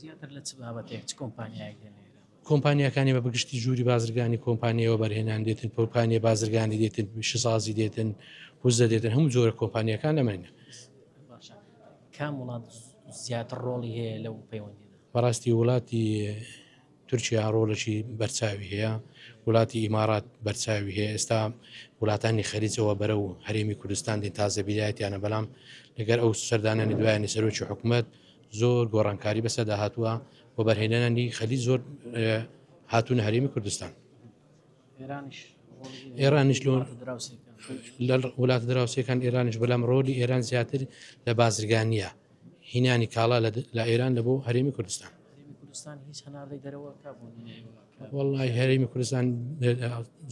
زیاتر لە چ بابەتێک چ کۆمپانیایەک دێنە ئێرە؟ کۆمپانیاکانی بە بگشتی ژووری بازرگانی کۆمپانیای وەبەرهێنان دێتن کۆمپانیای بازرگانی دێتن پیشەسازی دێتن وزە دێتن هەموو جۆرە کۆمپانیەکان ئەمەنە باشە کام وڵات زیاتر ڕۆڵی هەیە لەو پەیوەندی بەڕاستی وڵاتی تورکیا ڕۆڵەشی بەرچاوی هەیە وڵاتی ئیمارات بەرچاوی هەیە ئێستا وڵاتانی خەریجەوە بەرە و هەرێمی کوردستان دێن تازەبیرایەتیانە بەڵام لەگەر ئەو سەردانانی دوایانی سەرۆکی حکوومەت زۆر گۆڕانکاری بەسەدا هاتووە وەبەرهێنانی خەلی زۆر هاتوونە هەرێمی کوردستان ئێرانیش لە وڵات دراوسەکان ئێرانیش بەلام ڕۆلی ئێران زیاتر لە بازرگانیە هینانی کاڵا لە ئێران لە بۆ هەرێمی کوردستان وڵی هەرێمی کوردستان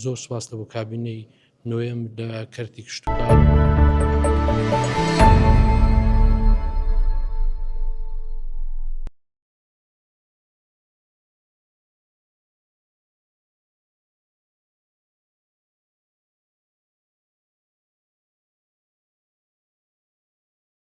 زۆر سواستە بۆ کابینەی نۆیەم لە کەرتی کشتوکاڵ.